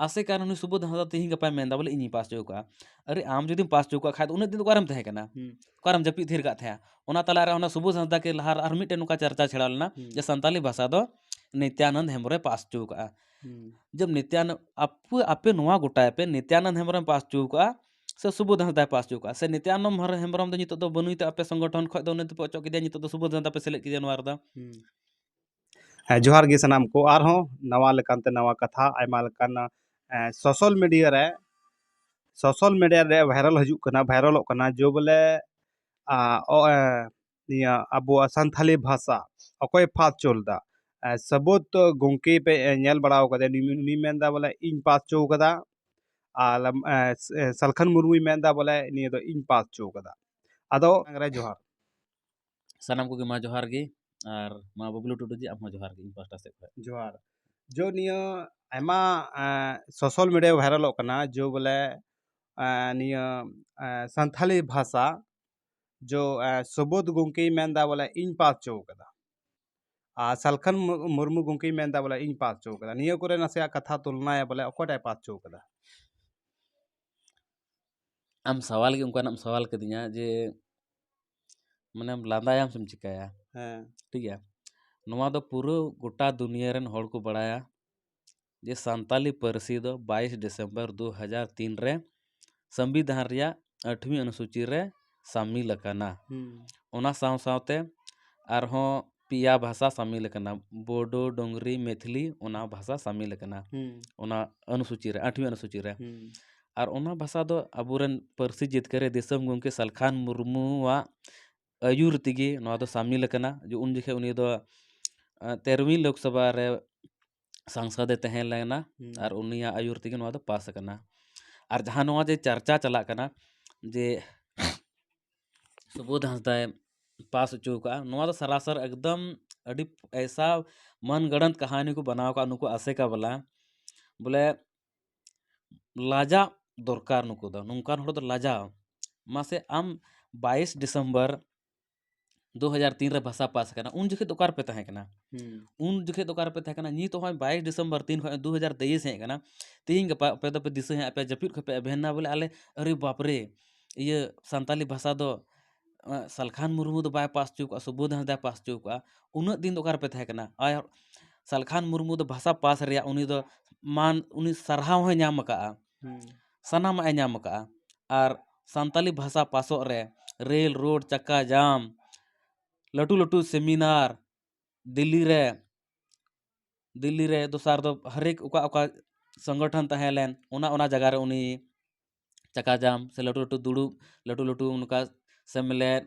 ᱟᱥᱮ ᱠᱟᱱ ᱩᱱᱤ ᱥᱩᱵᱳᱫᱷ ᱦᱟᱸᱥᱫᱟ ᱛᱮᱦᱮᱧ ᱜᱟᱯᱟᱭ ᱢᱮᱱᱫᱟ ᱵᱚᱞᱮ ᱤᱧᱤᱧ ᱯᱟᱥ ᱦᱚᱪᱚ ᱠᱟᱜᱼᱟ ᱟᱨᱮ ᱟᱢ ᱡᱩᱫᱤᱢ ᱯᱟᱥ ᱦᱚᱪᱚ ᱠᱟᱜ ᱠᱷᱟᱡ ᱫᱚ ᱩᱱᱟᱹᱜ ᱫᱤᱱ ᱫᱚ ᱚᱠᱟᱨᱮᱢ ᱛᱟᱦᱮᱸ ᱠᱟᱱᱟ ᱚᱠᱟᱨᱮᱢ ᱡᱟᱹᱯᱤᱫ ᱛᱷᱤᱨ ᱠᱟᱜ ᱛᱟᱦᱮᱸᱜᱼᱟ ᱚᱱᱟ ᱛᱟᱞᱟ ᱨᱮ ᱚᱱᱟ ᱥᱩᱵᱳᱫᱷ ᱦᱟᱸᱥᱫᱟ ᱠᱮ ᱞᱟᱦᱟ ᱨᱮ ᱟᱨ ᱢᱤᱫᱴᱮᱱ ᱱᱚᱝᱠᱟ ᱪᱟᱨᱪᱟ ᱪᱷᱮᱲᱟᱣ ᱞᱮᱱᱟ ᱡᱮ ᱥᱟᱱᱛᱟᱞᱤ ᱵᱷᱟᱥᱟ ᱫᱚ ᱱᱤᱛᱭᱟᱱᱚᱱᱫ ᱦᱮᱢᱵᱨᱚᱢᱮ ᱯᱟᱥ ᱦᱚᱪᱚ ᱠᱟᱜᱼᱟ ᱡᱚᱵᱽ ᱱᱤᱛᱭᱟᱱᱚᱱᱫ ᱟᱯᱮ ᱟᱯᱮ ᱱᱚᱣᱟ ᱜᱚᱴᱟᱭ ᱯᱮ ᱱᱤᱛᱭᱟᱱᱚᱱᱫ ᱦᱮᱢᱵᱨᱚᱢᱮ ᱯᱟᱥ ᱦᱚᱪᱚ ᱠᱟᱜᱼᱟ ᱥᱮ ᱥᱩᱵᱳᱫᱷ ᱦᱟᱸᱥᱫᱟᱭ ᱯᱟᱥ ᱦᱚᱪᱚ ᱠᱟᱜᱼᱟ ᱥᱮ ᱱᱤᱛᱭᱟᱱᱚᱱᱫ ᱦᱮᱢᱵᱨᱚᱢ ᱫᱚ ᱱᱤᱛᱚᱜ ᱫᱚ ᱵᱟᱹᱱᱩᱭ ᱛᱮ ᱟᱯᱮ ᱥᱚᱝᱜᱚᱴᱷᱚᱱ ᱠᱷᱚᱡ ᱫᱚ ᱩᱱᱤ ᱫᱚᱯᱮ ᱚᱪᱚᱜ ᱠᱮᱫᱮᱭᱟ ᱱᱤᱛᱚᱜ ᱫᱚ ᱥᱩᱵᱳᱫᱷ ᱦᱟᱸᱥᱫᱟ ᱯᱮ ᱥᱮᱞᱮᱫ ᱠᱮᱫᱮᱭᱟ ᱱᱚᱣᱟ ᱨᱮᱫᱚ ᱦᱮᱸ ᱡᱚᱦᱟᱨ ᱜᱮ ᱥᱟᱱᱟᱢ ᱠᱚ ᱟᱨᱦᱚᱸ ᱱᱟᱣᱟ ᱞᱮᱠᱟᱱᱛᱮ ᱱᱟᱣᱟ ᱠᱟᱛᱷᱟ ᱟᱭᱢᱟ ᱞᱮᱠᱟᱱ ᱥᱳᱥᱟᱞ ᱢᱤᱰᱤᱭᱟ ᱨᱮ ᱥᱳᱥᱟᱞ ᱢᱤᱰᱤᱭᱟ ᱨᱮ ᱵᱷᱟᱭᱨᱟᱞ ᱦᱤᱡᱩᱜ ᱠᱟᱱᱟ ᱵᱷᱟᱭᱨᱟᱞᱚᱜ ᱠᱟᱱᱟ ᱡᱮ ᱵᱚᱞᱮ ᱱᱤᱭᱟᱹ ᱟᱵᱚᱣᱟᱜ ᱥᱟᱱᱛᱟᱲᱤ ᱵᱷᱟᱥᱟ ᱚᱠᱚᱭ ᱯᱷᱟᱥ ᱦᱚᱪᱚ ᱞᱮᱫᱟ ᱥᱟᱹᱵᱩᱫ ᱜᱚᱢᱠᱮ ᱯᱮ ᱧᱮᱞ ᱵᱟᱲᱟ ᱠᱟᱫᱮ ᱩᱱᱤ ᱢᱮᱱᱫᱟ ᱵᱚᱞᱮ ᱤᱧ ᱯᱟᱥ ᱦᱚᱪᱚ ᱠᱟᱫᱟ ᱟᱨ ᱥᱟᱞᱠᱷᱟᱱ ᱢᱩᱨᱢᱩᱭ ᱢᱮᱱᱫᱟ ᱵᱚᱞᱮ ᱱᱤᱭᱟᱹ ᱫᱚ ᱤᱧ ᱯᱟᱥ ᱦᱚᱪᱚ ᱠᱟᱫᱟ ᱟᱫᱚ ᱡᱚᱦᱟᱨ ᱥᱟᱱᱟᱢ ᱠᱚᱜᱮ ᱢᱟ ᱡᱚᱦᱟᱨ ᱜᱮ ᱟᱨ ᱢᱟ ᱵᱟᱹᱵᱽᱞᱩ ᱴᱩᱰᱩ ᱡᱤ ᱟᱢᱦᱚᱸ ᱡᱚᱦᱟᱨ ᱜᱮ ᱤᱧ ᱯᱟᱥᱴᱟ ᱥᱮᱫ ᱠᱷᱚᱱ ᱡᱚᱦᱟᱨ ᱡᱚ ᱱᱤᱭᱟᱹ ᱟᱭᱢᱟ ᱥᱳᱥᱟᱞ ᱢᱤᱰᱤᱭᱟ ᱵᱷᱟᱭᱨᱟᱞᱚᱜ ᱠᱟᱱᱟ ᱡᱚ ᱵᱚᱞᱮ ᱱᱤᱭᱟᱹ ᱥᱟᱱᱛᱷᱟᱞᱤ ᱵᱷᱟᱥᱟ ᱡᱚ ᱥᱩᱵᱳᱫᱷ ᱜᱚᱢᱠᱮᱭ ᱢᱮᱱᱫᱟ ᱵᱚᱞᱮ ᱤᱧ ᱯᱟᱥ ᱦᱚᱪᱚ ᱟᱠᱟᱫᱟ ᱟᱨ ᱥᱟᱞᱠᱷᱟᱱ ᱢᱩᱨᱢᱩ ᱜᱚᱢᱠᱮᱭ ᱢᱮᱱᱫᱟ ᱵᱚᱞᱮ ᱤᱧ ᱯᱟᱥ ᱦᱚᱪᱚ ᱟᱠᱟᱫᱟ ᱱᱤᱭᱟᱹ ᱠᱚᱨᱮ ᱱᱟᱥᱮᱭᱟᱜ ᱠᱟᱛᱷᱟ ᱛᱩᱞᱱᱟᱭᱟ ᱵᱚᱞᱮ ᱚᱠᱚᱭᱴᱟᱜ ᱯᱟᱥ ᱦᱚᱪᱚ ᱟᱠᱟᱫᱟ ᱟᱢ ᱥᱟᱶᱟᱞ ᱜᱮ ᱚᱱᱠᱟᱱᱟᱜ ᱮᱢ ᱥᱟᱶᱟᱞ ᱠᱟᱫᱤᱧᱟ ᱡᱮ ᱢᱟᱱᱮᱢ ᱞᱟᱸᱫᱟᱭᱟᱢ ᱥᱮᱢ ᱪᱤᱠᱟᱹᱭᱟ ᱦᱮᱸ ᱴᱷᱤᱠ ᱜᱮᱭᱟ ᱱᱚᱣᱟ ᱫᱚ ᱯᱩᱨᱟᱹ ᱜᱚᱴᱟ ᱫᱩᱱᱤᱭᱟᱹ ᱨᱮᱱ ᱦᱚᱲ ᱠᱚ ᱵᱟᱲᱟᱭᱟ ᱡᱮ ᱥᱟᱱᱛᱟᱞᱤ ᱯᱟᱹᱨᱥᱤ ᱫᱚ ᱵᱟᱭᱤᱥ ᱰᱤᱥᱮᱢᱵᱚᱨ ᱫᱩ ᱦᱟᱡᱟᱨ ᱛᱤᱱ ᱨᱮ ᱥᱚᱝᱵᱤᱫᱷᱟᱱ ᱨᱮᱭᱟᱜ ᱟᱴᱷᱣᱤ ᱚᱱᱩᱥᱩᱪᱤ ᱨᱮ ᱥᱟᱹᱢᱤᱞ ᱟᱠᱟᱱᱟ ᱚᱱᱟ ᱥᱟᱶ ᱥᱟᱶᱛᱮ ᱟᱨᱦᱚᱸ ᱯᱮᱭᱟ ᱵᱷᱟᱥᱟ ᱥᱟᱹᱢᱤᱞ ᱟᱠᱟᱱᱟ ᱵᱳᱰᱳ ᱰᱳᱝᱨᱤ ᱢᱮᱛᱷᱤᱞᱤ ᱚᱱᱟ ᱵᱷᱟᱥᱟ ᱥᱟᱹᱢᱤᱞ ᱟᱠᱟᱱᱟ ᱚᱱᱟ ᱟᱹᱱᱩᱥᱩᱪᱤ ᱨᱮ ᱟᱴᱷᱣᱤ ᱟᱹᱱᱩᱥᱩᱪᱤ ᱨᱮ ᱟᱨ ᱚᱱᱟ ᱵᱷᱟᱥᱟ ᱫᱚ ᱟᱵᱚ ᱨᱮᱱ ᱯᱟᱹᱨᱥᱤ ᱡᱤᱛᱠᱟᱹᱨᱤ ᱫᱤᱥᱚᱢ ᱜᱚᱢᱠᱮ ᱥᱟᱞᱠᱷᱟᱱ ᱢᱩᱨᱢᱩᱣᱟᱜ ᱟᱹᱭᱩᱨ ᱛᱮᱜᱮ ᱱᱚᱣᱟ ᱫᱚ ᱥᱟᱹᱢᱤᱞ ᱟᱠᱟᱱᱟ ᱩᱱ ᱡᱚᱠᱷᱚᱱ ᱩᱱᱤ ᱫᱚ ᱛᱮᱨᱚᱣᱤ ᱞᱳᱠᱥᱚᱵᱷᱟ ᱨᱮ ᱥᱟᱝᱥᱚᱫᱽ ᱮ ᱛᱟᱦᱮᱸ ᱞᱮᱱᱟ ᱟᱨ ᱩᱱᱤᱭᱟᱜ ᱟᱹᱭᱩᱨ ᱛᱮᱜᱮ ᱱᱚᱣᱟ ᱫᱚ ᱯᱟᱥ ᱟᱠᱟᱱᱟ ᱟᱨ ᱡᱟᱦᱟᱸ ᱱᱚᱣᱟ ᱡᱮ ᱪᱟᱨᱪᱟ ᱪᱟᱞᱟᱜ ᱠᱟᱱᱟ ᱡᱮ ᱥᱩᱵᱳᱫᱷ ᱦᱟᱸᱥᱫᱟᱭ ᱯᱟᱥ ᱦᱚᱪᱚ ᱟᱠᱟᱫᱼᱟ ᱱᱚᱣᱟ ᱫᱚ ᱥᱟᱨᱟᱥᱟᱨ ᱮᱠᱫᱚᱢ ᱟᱹᱰᱤ ᱮᱭᱥᱟ ᱢᱚᱱ ᱜᱚᱲᱚᱱᱛ ᱠᱟᱹᱦᱱᱤ ᱠᱚ ᱵᱮᱱᱟᱣ ᱟᱠᱟᱫᱼᱟ ᱱᱩᱠᱩ ᱟᱥᱮᱠᱟ ᱵᱟᱞᱟ ᱵᱚᱞᱮ ᱞᱟᱡᱟᱜ ᱫᱚᱨᱠᱟᱨ ᱱᱩᱠᱩ ᱫᱚ ᱱᱚᱝᱠᱟᱱ ᱦᱚᱲ ᱫᱚ ᱞᱟᱡᱟᱣ ᱢᱟᱥᱮ ᱟᱢ ᱵᱟᱭᱤᱥ ᱰᱤᱥᱮᱢᱵᱚᱨ ᱫᱩ ᱦᱟᱡᱟᱨ ᱛᱤᱱ ᱨᱮ ᱵᱷᱟᱥᱟ ᱯᱟᱥ ᱟᱠᱟᱱᱟ ᱩᱱ ᱡᱚᱠᱷᱮᱡ ᱫᱚ ᱚᱠᱟ ᱨᱮᱯᱮ ᱛᱟᱦᱮᱸ ᱠᱟᱱᱟ ᱩᱱ ᱡᱚᱠᱷᱮᱡ ᱫᱚ ᱚᱠᱟ ᱨᱮᱯᱮ ᱛᱟᱦᱮᱸ ᱠᱟᱱᱟ ᱱᱤᱛ ᱦᱚᱸᱜᱼᱚᱭ ᱵᱟᱭᱤᱥ ᱰᱤᱥᱮᱢᱵᱚᱨ ᱛᱤᱱ ᱠᱷᱚᱡ ᱫᱩ ᱦᱟᱡᱟᱨ ᱛᱮᱭᱤᱥ ᱦᱮᱡ ᱟᱠᱟᱱᱟ ᱛᱤᱦᱤᱧ ᱜᱟᱯᱟ ᱟᱯᱮ ᱫᱚᱯᱮ ᱫᱤᱥᱟᱹ ᱧᱟᱢᱮᱫ ᱟᱯᱮ ᱡᱟᱹᱯᱤᱫ ᱠᱷᱚᱡ ᱯᱮ ᱮᱵᱷᱮᱱ ᱮᱱᱟ ᱵᱚᱞᱮ ᱟᱞᱮ ᱟᱨᱮ ᱵᱟᱯ ᱨᱮ ᱤᱭᱟᱹ ᱥᱟᱱᱛᱟᱲᱤ ᱵᱷᱟᱥᱟ ᱫᱚ ᱥᱟᱞᱠᱷᱟᱱ ᱢᱩᱨᱢᱩ ᱫᱚ ᱵᱟᱭ ᱯᱟᱥ ᱦᱚᱪᱚ ᱠᱟᱜᱼᱟ ᱥᱩᱵᱳᱫᱷ ᱦᱟᱸᱥᱫᱟᱭ ᱯᱟᱥ ᱦᱚᱪᱚ ᱠᱟᱜᱼᱟ ᱩᱱᱟᱹᱜ ᱫᱤᱱ ᱫᱚ ᱚᱠᱟ ᱨᱮᱯᱮ ᱛᱟᱦᱮᱸ ᱠᱟᱱᱟ ᱟᱨ ᱥᱟᱞᱠᱷᱟᱱ ᱢᱩᱨᱢᱩ ᱫᱚ ᱵᱷᱟᱥᱟ ᱯᱟᱥ ᱨᱮᱭᱟᱜ ᱩᱱᱤ ᱫᱚ ᱢᱟᱱ ᱩᱱᱤ ᱥᱟᱨᱦᱟᱣ ᱦᱚᱸᱭ ᱧᱟᱢ ᱟᱠᱟᱫᱼᱟ ᱥᱟᱱᱟᱢᱟᱜ ᱮ ᱧᱟᱢ ᱟᱠᱟᱫᱼᱟ ᱟᱨ ᱥᱟᱱᱛᱟᱲᱤ ᱵᱷᱟᱥᱟ ᱯᱟᱥᱚᱜ ᱨᱮ ᱨᱮᱞ ᱨᱳᱰ ᱪᱟᱠᱟ ᱡᱟᱢ ᱞᱟᱹᱴᱩ ᱞᱟᱹᱴᱩ ᱥᱮᱢᱤᱱᱟᱨ ᱫᱤᱞᱞᱤ ᱨᱮ ᱫᱤᱞᱞᱤ ᱨᱮ ᱫᱚᱥᱟᱨ ᱫᱚ ᱦᱟᱨᱮᱠ ᱚᱠᱟ ᱚᱠᱟ ᱥᱚᱝᱜᱚᱴᱷᱚᱱ ᱛᱟᱦᱮᱸ ᱞᱮᱱ ᱚᱱᱟ ᱚᱱᱟ ᱡᱟᱭᱜᱟ ᱨᱮ ᱩᱱᱤ ᱪᱟᱠᱟ ᱡᱟᱢ ᱥᱮ ᱞᱟᱹᱴᱩ ᱞᱟᱹᱴᱩ ᱫᱩᱲᱩᱵ ᱞᱟᱹᱴᱩ ᱞᱟᱹᱴᱩ ᱚᱱᱠᱟ ᱥᱮᱢᱞᱮᱫ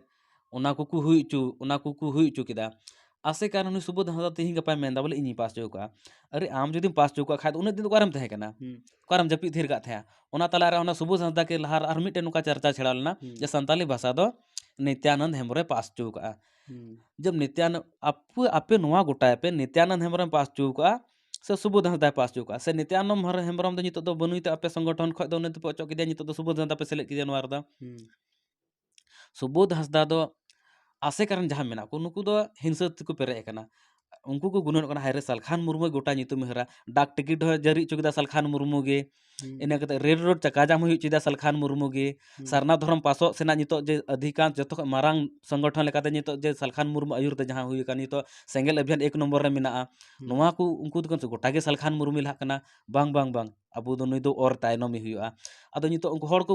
ᱚᱱᱟ ᱠᱚᱠᱚ ᱦᱩᱭ ᱚᱪᱚ ᱚᱱᱟ ᱠᱚᱠᱚ ᱦᱩᱭ ᱚᱪᱚ ᱠᱮᱫᱟ ᱟᱥᱮ ᱠᱟᱱ ᱩᱱᱤ ᱥᱩᱵᱳᱫᱷ ᱦᱟᱸᱥᱫᱟ ᱛᱮᱦᱮᱧ ᱜᱟᱯᱟᱭ ᱢᱮᱱᱫᱟ ᱵᱚᱞᱮ ᱤᱧᱤᱧ ᱯᱟᱥ ᱚᱪᱚ ᱠᱚᱣᱟ ᱟᱨᱮ ᱟᱢ ᱡᱩᱫᱤᱢ ᱯᱟᱥ ᱚᱪᱚ ᱠᱟᱜ ᱠᱷᱟᱡ ᱫᱚ ᱩᱱᱟᱹᱜ ᱫᱤᱱ ᱫᱚ ᱚᱠᱟᱨᱮᱢ ᱛᱟᱦᱮᱸ ᱠᱟᱱᱟ ᱚᱠᱟᱨᱮᱢ ᱡᱟᱹᱯᱤᱫ ᱛᱷᱤᱨ ᱠᱟᱜ ᱛᱟᱦᱮᱸᱜᱼᱟ ᱚᱱᱟ ᱛᱟᱞᱟ ᱨᱮ ᱚᱱᱟ ᱥᱩᱵᱳᱫᱷ ᱦᱟᱸᱥᱫᱟ ᱠᱮ ᱞᱟᱦᱟ ᱨᱮ ᱟᱨ ᱢᱤᱫᱴᱮᱱ ᱱᱚᱝᱠᱟ ᱪᱟᱨᱪᱟ ᱪᱷᱮᱲᱟᱣ ᱞᱮᱱᱟ ᱡᱮ ᱥᱟᱱᱛᱟᱲᱤ ᱵᱷᱟᱥᱟ ᱫᱚ ᱱᱤᱛᱭᱟᱱᱚᱱᱫ ᱦᱮᱢᱵᱨᱚᱢᱮ ᱯᱟᱥ ᱚᱪᱚ ᱠᱟᱜᱼᱟ ᱡᱚᱵᱽ ᱱᱤᱛᱭᱟᱱᱚᱱᱫ ᱟᱯᱮ ᱟᱯᱮ ᱱᱚᱣᱟ ᱜᱚᱴᱟᱭ ᱯᱮ ᱱᱤᱛᱭᱟᱱᱚᱱᱫ ᱦᱮᱢᱵᱨᱚᱢᱮ ᱯᱟᱥ ᱚᱪᱚ ᱠᱟᱜᱼᱟ ᱥᱮ ᱥᱩᱵᱳᱫᱷ ᱦᱟᱸᱥᱫᱟᱭ ᱯᱟᱥ ᱚᱪᱚ ᱠᱟᱜᱼᱟ ᱥᱮ ᱱᱤᱛᱭᱟᱱᱚᱱᱫ ᱦᱮᱢᱵᱨᱚᱢ ᱫᱚ ᱱᱤᱛᱚᱜ ᱫᱚ ᱵᱟᱹᱱᱩᱭ ᱛᱮ ᱟᱯᱮ ᱥᱚᱝᱜᱚᱴᱷᱚᱱ ᱠᱷᱚᱡ ᱫᱚ ᱩᱱᱤ ᱫᱚᱯᱮ ᱚᱪᱚᱜ ᱠᱮᱫᱮᱭᱟ ᱱᱤᱛᱚᱜ ᱫᱚ ᱥᱩᱵᱳᱫᱷ ᱦᱟᱸᱥᱫᱟ ᱯᱮ ᱥᱮᱞᱮᱫ ᱠᱮᱫᱮᱭᱟ ᱱᱚᱣᱟ ᱨᱮᱫᱚ ᱥᱩᱵᱳᱫ ᱦᱟᱸᱥᱫᱟ ᱫᱚ ᱟᱥᱮᱠᱟ ᱨᱮᱱ ᱡᱟᱦᱟᱸᱭ ᱢᱮᱱᱟᱜ ᱠᱚ ᱱᱩᱠᱩ ᱫᱚ ᱦᱤᱝᱥᱟᱹ ᱛᱮᱠᱚ ᱯᱮᱨᱮᱡ ᱟᱠᱟᱱᱟ ᱩᱱᱠᱩ ᱠᱚ ᱜᱩᱱᱟᱹᱱᱚᱜ ᱠᱟᱱᱟ ᱦᱟᱭᱨᱮ ᱥᱟᱞᱠᱷᱟᱱ ᱢᱩᱨᱢᱩ ᱜᱚᱴᱟ ᱧᱩᱛᱩᱢᱮ ᱦᱟᱹᱨᱟ ᱰᱟᱠ ᱴᱤᱠᱤᱴ ᱦᱚᱸ ᱡᱟᱹᱨᱤ ᱦᱚᱪᱚ ᱠᱮᱫᱟ ᱥᱟᱞᱠᱷᱟᱱ ᱢᱩᱨᱢᱩ ᱜᱮ ᱤᱱᱟᱹ ᱠᱟᱛᱮ ᱨᱮᱞ ᱨᱳᱰ ᱪᱟᱠᱟ ᱡᱟᱢ ᱦᱩᱭ ᱦᱚᱪᱚᱭᱮᱫᱟ ᱥᱟᱞᱠᱷᱟᱱ ᱢᱩᱨᱢᱩ ᱜᱮ ᱥᱟᱨᱱᱟ ᱫᱷᱚᱨᱚᱢ ᱯᱟᱥᱚᱜ ᱥᱮᱱᱟᱜ ᱱᱤᱛᱚᱜ ᱡᱮ ᱟᱹᱫᱷᱤᱠᱟᱱ ᱡᱚᱛᱚ ᱠᱷᱚᱱ ᱢᱟᱨᱟᱝ ᱥᱚᱝᱜᱚᱴᱷᱚᱱ ᱞᱮᱠᱟᱛᱮ ᱱᱤᱛᱚᱜ ᱡᱮ ᱥᱟᱞᱠᱷᱟᱱ ᱢᱩᱨᱢᱩ ᱟᱹᱭᱩᱨ ᱛᱮ ᱡᱟᱦᱟᱸ ᱦᱩᱭ ᱟᱠᱟᱱ ᱱᱤᱛᱚᱜ ᱥᱮᱸᱜᱮᱞ ᱟᱵᱷᱤᱭᱟᱱ ᱮᱠ ᱱᱚᱢᱵᱚᱨ ᱨᱮ ᱢᱮᱱᱟᱜᱼᱟ ᱱᱚᱣᱟ ᱠᱚ ᱩᱱᱠᱩ ᱫᱚᱠᱚ ᱜᱚᱴᱟ ᱜᱮ ᱥᱟᱞᱠᱷᱟᱱ ᱢᱩᱨᱢᱩᱭ ᱞᱟᱦᱟᱜ ᱠᱟᱱᱟ ᱵᱟᱝ ᱵᱟᱝ ᱵᱟᱝ ᱟᱵᱚ ᱫᱚ ᱱᱩᱭ ᱫᱚ ᱚᱨ ᱛᱟᱭᱱᱚᱢᱮ ᱦᱩᱭᱩᱜᱼᱟ ᱟᱫᱚ ᱱᱤᱛᱚᱜ ᱩᱱᱠᱩ ᱦᱚᱲ ᱠᱚ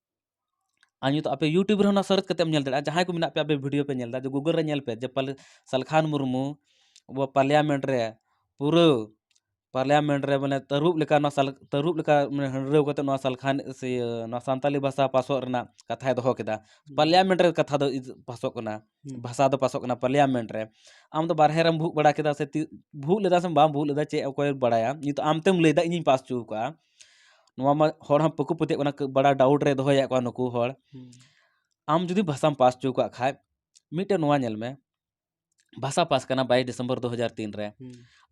ᱟᱨ ᱱᱤᱛᱚᱜ ᱟᱯᱮ ᱤᱭᱩᱴᱩᱵᱽ ᱨᱮᱦᱚᱸ ᱚᱱᱟ ᱥᱟᱨᱪ ᱠᱟᱛᱮᱢ ᱧᱮᱞ ᱫᱟᱲᱮᱭᱟᱜᱼᱟ ᱡᱟᱦᱟᱸᱭ ᱠᱚ ᱢᱮᱱᱟᱜ ᱯᱮᱭᱟ ᱟᱯᱮ ᱵᱷᱤᱰᱤᱭᱳ ᱯᱮ ᱧᱮᱞᱫᱟ ᱡᱮ ᱜᱩᱜᱩᱞ ᱨᱮ ᱧᱮᱞ ᱯᱮ ᱡᱮ ᱯᱟᱞᱮ ᱥᱟᱞᱠᱷᱟᱱ ᱢᱩᱨᱢᱩ ᱟᱵᱚ ᱯᱟᱨᱞᱤᱭᱟᱢᱮᱱᱴ ᱨᱮ ᱯᱩᱨᱟᱹ ᱯᱟᱨᱞᱤᱭᱟᱢᱮᱱᱴ ᱨᱮ ᱢᱟᱱᱮ ᱛᱟᱹᱨᱩᱵ ᱞᱮᱠᱟ ᱚᱱᱟ ᱥᱟᱞ ᱛᱟᱹᱨᱩᱵ ᱞᱮᱠᱟ ᱢᱟᱱᱮ ᱦᱟᱺᱰᱨᱟᱹᱣ ᱠᱟᱛᱮ ᱱᱚᱣᱟ ᱥᱟᱞᱠᱷᱟᱱ ᱥᱮ ᱤᱭᱟᱹ ᱱᱚᱣᱟ ᱥᱟᱱᱛᱟᱞᱤ ᱵᱷᱟᱥᱟ ᱯᱟᱥᱚᱜ ᱨᱮᱱᱟᱜ ᱠᱟᱛᱷᱟᱭ ᱫᱚᱦᱚ ᱠᱮᱫᱟ ᱯᱟᱨᱞᱤᱭᱟᱢᱮᱱᱴ ᱨᱮ ᱠᱟᱛᱷᱟ ᱫᱚ ᱯᱟᱥᱚᱜ ᱠᱟᱱᱟ ᱵᱷᱟᱥᱟ ᱫᱚ ᱯᱟᱥᱚᱜ ᱠᱟᱱᱟ ᱯᱟᱨᱞᱤᱭᱟᱢᱮᱱᱴ ᱨᱮ ᱟᱢ ᱫᱚ ᱵᱟᱨᱦᱮ ᱨᱮᱢ ᱵᱷᱩᱜ ᱵᱟᱲᱟ ᱠᱮᱫᱟ ᱥᱮ ᱛᱤ ᱵᱷᱩᱜ ᱞᱮᱫᱟ ᱥᱮ ᱵᱟᱢ ᱵᱷᱩᱜ ᱞᱮᱫᱟ ᱪᱮᱫ ᱚᱠᱚᱭᱮ ᱵᱟᱲᱟᱭᱟ ᱱᱤᱛᱚᱜ ᱟᱢ ᱛᱮᱢ ᱞᱟᱹᱭᱫᱟ ᱤᱧᱤᱧ ᱯᱟᱥ ᱦᱚᱪᱚᱣ ᱠᱟᱜᱼᱟ ᱱᱚᱣᱟ ᱢᱟ ᱦᱚᱲ ᱦᱚᱸ ᱵᱟᱠᱚ ᱯᱟᱹᱛᱭᱟᱹᱜ ᱠᱟᱱᱟ ᱵᱟᱲᱟ ᱰᱟᱣᱩᱴ ᱨᱮ ᱫᱚᱦᱚᱭᱮᱫ ᱠᱚᱣᱟ ᱱᱩᱠᱩ ᱦᱚᱲ ᱟᱢ ᱡᱩᱫᱤ ᱵᱷᱟᱥᱟᱢ ᱯᱟᱥ ᱦᱚᱪᱚ ᱠᱟᱜ ᱠᱷᱟᱡ ᱢᱤᱫᱴᱮᱱ ᱱᱚᱣᱟ ᱧᱮᱞ ᱢᱮ ᱵᱷᱟᱥᱟ ᱯᱟᱥ ᱠᱟᱱᱟ ᱵᱟᱭᱤᱥ ᱰᱤᱥᱮᱢᱵᱚᱨ ᱫᱩ ᱦᱟᱡᱟᱨ ᱛᱤᱱ ᱨᱮ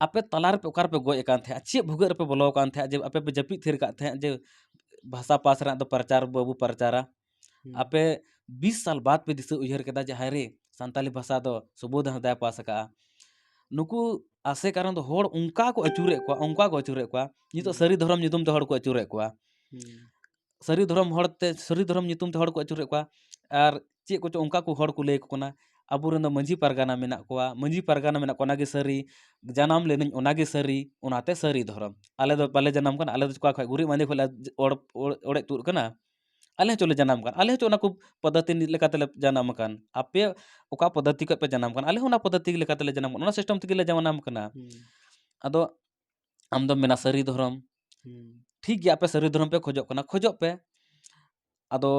ᱟᱯᱮ ᱛᱟᱞᱟ ᱨᱮᱯᱮ ᱚᱠᱟ ᱨᱮᱯᱮ ᱜᱚᱡ ᱟᱠᱟᱱ ᱛᱟᱦᱮᱸᱫ ᱪᱮᱫ ᱵᱷᱩᱜᱟᱹᱜ ᱨᱮᱯᱮ ᱵᱚᱞᱚ ᱟᱠᱟᱱ ᱛᱟᱦᱮᱸᱫ ᱡᱮ ᱟᱯᱮ ᱯᱮ ᱡᱟᱹᱯᱤᱫ ᱛᱷᱤᱨ ᱟᱠᱟᱫ ᱛᱟᱦᱮᱸᱫ ᱡᱮ ᱵᱷᱟᱥᱟ ᱯᱟᱥ ᱨᱮᱱᱟᱜ ᱫᱚ ᱯᱨᱚᱪᱟᱨ ᱵᱟᱵᱚ ᱯᱨᱚᱪᱟᱨᱟ ᱟᱯᱮ ᱵᱤᱥ ᱥᱟᱞ ᱵᱟᱫ ᱯᱮ ᱫᱤᱥᱟᱹ ᱩᱭᱦᱟᱹᱨ ᱠᱮᱫᱟ ᱡᱮ ᱦᱟᱭᱨᱮ ᱥᱟᱱᱛᱟᱞᱤ ᱵᱷᱟᱥᱟ ᱫᱚ ᱥᱩᱵᱳᱫᱷ ᱦᱟᱸᱥᱫᱟᱭ ᱯᱟᱥ ᱟᱠᱟᱫᱼᱟ ᱱᱩᱠᱩ ᱟᱥᱮ ᱠᱟᱨᱚᱱ ᱫᱚ ᱦᱚᱲ ᱚᱱᱠᱟ ᱠᱚ ᱟᱹᱪᱩᱨᱮᱫ ᱠᱚᱣᱟ ᱚᱱᱠᱟ ᱠᱚ ᱟᱹᱪᱩᱨᱮᱫ ᱠᱚᱣᱟ ᱱᱤᱛᱚᱜ ᱥᱟᱹᱨᱤ ᱫᱷᱚᱨᱚᱢ ᱧᱩᱛᱩᱢ ᱛᱮ ᱦᱚᱲ ᱠᱚ ᱟᱹᱪᱩᱨᱮᱫ ᱠᱚᱣᱟ ᱥᱟᱹᱨᱤ ᱫᱷᱚᱨᱚᱢ ᱦᱚᱲᱛᱮ ᱥᱟᱹᱨᱤ ᱫᱷᱚᱨᱚᱢ ᱧᱩᱛᱩᱢ ᱛᱮ ᱦᱚᱲ ᱠᱚ ᱟᱹᱪᱩᱨᱮᱫ ᱠᱚᱣᱟ ᱟᱨ ᱪᱮᱫ ᱠᱚᱪᱚ ᱚᱱᱠᱟ ᱠᱚ ᱦᱚᱲ ᱠᱚ ᱞᱟᱹᱭ ᱟᱠᱚ ᱠᱟᱱᱟ ᱟᱵᱚᱨᱮᱱ ᱫᱚ ᱢᱟᱺᱡᱷᱤ ᱯᱟᱨᱜᱟᱱᱟ ᱢᱮᱱᱟᱜ ᱠᱚᱣᱟ ᱢᱟᱺᱡᱷᱤ ᱯᱟᱨᱜᱟᱱᱟ ᱢᱮᱱᱟᱜ ᱠᱚᱣᱟ ᱚᱱᱟᱜᱮ ᱥᱟᱹᱨᱤ ᱡᱟᱱᱟᱢ ᱞᱮᱱᱟᱹᱧ ᱚᱱᱟᱜᱮ ᱥᱟᱹᱨᱤ ᱚᱱᱟᱛᱮ ᱥᱟᱹᱨᱤ ᱫᱷᱚᱨᱚᱢ ᱟᱞᱮ ᱫᱚ ᱵᱟᱞᱮ ᱡᱟᱱᱟᱢ ᱠᱟᱱᱟ ᱟᱞᱮ ᱫᱚ ᱚᱠᱟ ᱠᱷᱚᱱ ᱜᱩᱨᱤᱡ ᱢᱟᱸᱫᱮ ᱠᱷᱚᱱᱞᱮ ᱚᱲᱮᱡ ᱛᱩᱫ ᱟᱠᱟᱱᱟ ᱟᱞᱮ ᱦᱚᱸ ᱪᱚᱞᱮ ᱡᱟᱱᱟᱢ ᱟᱠᱟᱱ ᱟᱞᱮ ᱦᱚᱸ ᱪᱚ ᱚᱱᱟ ᱠᱚ ᱯᱚᱫᱽᱫᱷᱚᱛᱤ ᱞᱮᱠᱟ ᱛᱮᱞᱮ ᱡᱟᱱᱟᱢ ᱟᱠᱟᱱ ᱟᱯᱮ ᱚᱠᱟ ᱯᱚᱫᱽᱫᱷᱚᱛᱤ ᱠᱷᱚᱱ ᱯᱮ ᱡᱟᱱᱟᱢ ᱟᱠᱟᱱ ᱟᱞᱮ ᱦᱚᱸ ᱚᱱᱟ ᱯᱚᱫᱽᱫᱷᱚᱛᱤ ᱞᱮᱠᱟ ᱛᱮᱞᱮ ᱡᱟᱱᱟᱢ ᱟᱠᱟᱱᱟ ᱚᱱᱟ ᱥᱤᱥᱴᱮᱢ ᱛᱮᱜᱮ ᱞᱮ ᱡᱟᱱᱟᱢ ᱟᱠᱟᱱᱟ ᱟᱫᱚ ᱟᱢ ᱫᱚᱢ ᱢᱮᱱᱟ ᱥᱟᱹᱨᱤ ᱫᱷᱚᱨᱚᱢ ᱴᱷᱤᱠ ᱜᱮᱭᱟ ᱟᱯᱮ ᱥᱟᱹᱨᱤ ᱫᱷᱚᱨᱚᱢ ᱯᱮ ᱠᱷᱚᱡᱚᱜ ᱠᱟᱱᱟ ᱠᱷᱚᱡᱚᱜ ᱯᱮ ᱟᱫᱚ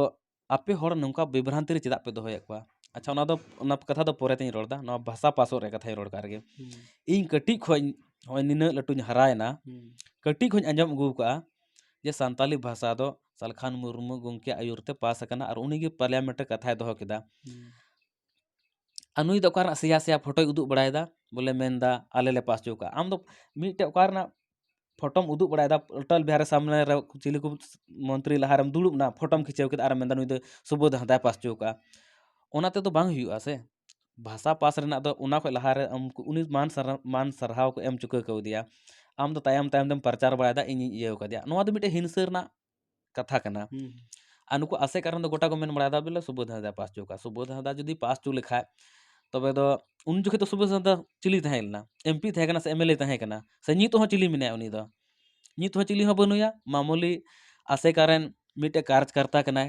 ᱟᱯᱮ ᱦᱚᱲ ᱱᱚᱝᱠᱟ ᱵᱤᱵᱷᱨᱟᱱᱛᱤ ᱨᱮ ᱪᱮᱫᱟᱜ ᱯᱮ ᱫᱚᱦᱚᱭᱮᱫ ᱠᱚᱣᱟ ᱟᱪᱪᱷᱟ ᱚᱱᱟ ᱫᱚ ᱚᱱᱟ ᱠᱟᱛᱷᱟ ᱫᱚ ᱯᱚᱨᱮ ᱛᱤᱧ ᱨᱚᱲᱫᱟ ᱱᱚᱣᱟ ᱵᱷᱟᱥᱟ ᱯᱟᱥᱚᱜ ᱨᱮᱭᱟᱜ ᱠᱟᱛᱷᱟᱧ ᱨᱚᱲ ᱠᱟᱜ ᱨᱮᱜᱮ ᱤᱧ ᱠᱟᱹᱴᱤᱡ ᱠᱷᱚᱱ ᱱᱚᱜᱼᱚᱭ ᱱᱤᱱᱟᱹᱜ ᱞᱟᱹᱴᱩᱧ ᱦᱟᱨᱟᱭᱮᱱᱟ ᱠᱟᱹᱴᱤᱡ ᱠᱷᱚᱱᱤᱧ ᱟᱸᱡᱚᱢ ᱟᱹᱜᱩ ᱟᱠᱟᱫᱼᱟ ᱡᱮ ᱥᱟᱱᱛᱟᱞᱤ ᱵᱷᱟᱥᱟ ᱫᱚ ᱥᱟᱞᱠᱷᱟᱱ ᱢᱩᱨᱢᱩ ᱜᱚᱢᱠᱮᱭᱟᱜ ᱟᱹᱭᱩᱨ ᱛᱮ ᱯᱟᱥ ᱟᱠᱟᱱᱟ ᱟᱨ ᱩᱱᱤ ᱜᱮ ᱯᱟᱨᱞᱤᱭᱟᱢᱮᱱᱴ ᱨᱮ ᱠᱟᱛᱷᱟᱭ ᱫᱚᱦᱚ ᱠᱮᱫᱟ ᱟᱨ ᱱᱩᱭ ᱫᱚ ᱚᱠᱟ ᱨᱮᱱᱟᱜ ᱥᱮᱭᱟ ᱥᱮᱭᱟ ᱯᱷᱳᱴᱳᱭ ᱩᱫᱩᱜ ᱵᱟᱲᱟᱭᱮᱫᱟ ᱵᱚᱞᱮ ᱢᱮᱱᱫᱟ ᱟᱞᱮ ᱞᱮ ᱯᱟᱥ ᱦᱚᱪᱚ ᱠᱟᱜᱼᱟ ᱟᱢ ᱫᱚ ᱢᱤᱫᱴᱮᱡ ᱚᱠᱟ ᱨᱮᱱᱟᱜ ᱯᱷᱳᱴᱳᱢ ᱩᱫᱩᱜ ᱵᱟᱲᱟᱭᱮᱫᱟ ᱚᱴᱚᱞ ᱵᱤᱦᱟᱨᱤ ᱥᱟᱢᱱᱮ ᱨᱮ ᱪᱤᱞᱤ ᱠᱚ ᱢᱚᱱᱛᱨᱤ ᱞᱟᱦᱟ ᱨᱮᱢ ᱫᱩᱲᱩᱵ ᱮᱱᱟ ᱯᱷᱳᱴᱳᱢ ᱠᱷᱤᱪᱟᱹᱣ ᱠᱮᱫᱟ ᱟᱨᱮᱢ ᱢᱮᱱᱫᱟ ᱱᱩᱭ ᱫᱚ ᱥᱩᱵᱳᱫᱷ ᱦᱟᱸᱥᱫᱟᱭ ᱯᱟᱥ ᱦᱚᱪᱚ ᱠᱟᱜᱼᱟ ᱚᱱᱟ ᱛᱮᱫᱚ ᱵᱟᱝ ᱦᱩᱭᱩᱜᱼᱟ ᱥᱮ ᱵᱷᱟᱥᱟ ᱯᱟᱥ ᱨᱮᱱᱟᱜ ᱫᱚ ᱚᱱᱟ ᱠᱷᱚᱱ ᱞᱟᱦᱟᱨᱮ ᱩᱱᱠᱩ ᱩᱱᱤ ᱢᱟᱱ ᱥᱟᱨᱦᱟᱣ ᱢᱟᱱ ᱥᱟᱨᱦᱟᱣ ᱠᱚ ᱮᱢ ᱪᱩᱠᱟᱹ ᱠᱟᱣᱫᱮᱭᱟ ᱟᱢ ᱫᱚ ᱛᱟᱭᱚᱢ ᱛᱟᱭᱚᱢ ᱛᱮᱢ ᱯᱟᱨᱪᱟᱨ ᱵᱟᱲᱟᱭᱮᱫᱟ ᱤᱧᱤᱧ ᱤᱭᱟᱹ ᱠᱟᱫᱮᱭᱟ ᱱᱚᱣᱟ ᱫᱚ ᱢᱤᱫᱴᱮᱱ ᱦᱤᱝᱥᱟᱹ ᱨᱮᱱᱟᱜ ᱠᱟᱛᱷᱟ ᱠᱟᱱᱟ ᱟᱨ ᱱᱩᱠᱩ ᱟᱥᱮᱠᱟ ᱨᱮᱱ ᱫᱚ ᱜᱚᱴᱟ ᱠᱚ ᱢᱮᱱ ᱵᱟᱲᱟᱭᱮᱫᱟ ᱵᱚᱞᱮ ᱥᱩᱵᱳᱫᱷ ᱦᱟᱸᱥᱫᱟᱭ ᱯᱟᱥ ᱦᱚᱪᱚ ᱠᱟᱜᱼᱟ ᱥᱩᱵᱳᱫᱷ ᱦᱟᱸᱥᱫᱟ ᱡᱩᱫᱤ ᱯᱟᱥ ᱦᱚᱪᱚ ᱞᱮᱠᱷᱟᱱ ᱛᱚᱵᱮ ᱫᱚ ᱩᱱ ᱡᱚᱠᱷᱚᱱ ᱫᱚ ᱥᱩᱵᱳᱫᱷ ᱦᱟᱸᱥᱫᱟ ᱪᱤᱞᱤ ᱛᱟᱦᱮᱸ ᱞᱮᱱᱟ ᱮᱢ ᱯᱤ ᱛᱟᱦᱮᱸ ᱠᱟᱱᱟ ᱥᱮ ᱮᱢ ᱮᱞ ᱮ ᱛᱟᱦᱮᱸ ᱠᱟᱱᱟ ᱥᱮ ᱱᱤᱛ ᱦᱚᱸ ᱪᱤᱞᱤ ᱢᱮᱱᱟᱭᱟ ᱩᱱᱤ ᱫᱚ ᱱᱤᱛ ᱦᱚᱸ ᱪᱤᱞᱤ ᱦᱚᱸ ᱵᱟᱹᱱᱩᱭᱟ ᱢᱟᱢᱩᱞᱤ ᱟᱥᱮᱠᱟ ᱨᱮᱱ ᱢᱤᱫᱴᱮᱱ ᱠᱟᱨᱡᱽ ᱠᱟᱨᱛᱟ ᱠᱟᱱᱟᱭ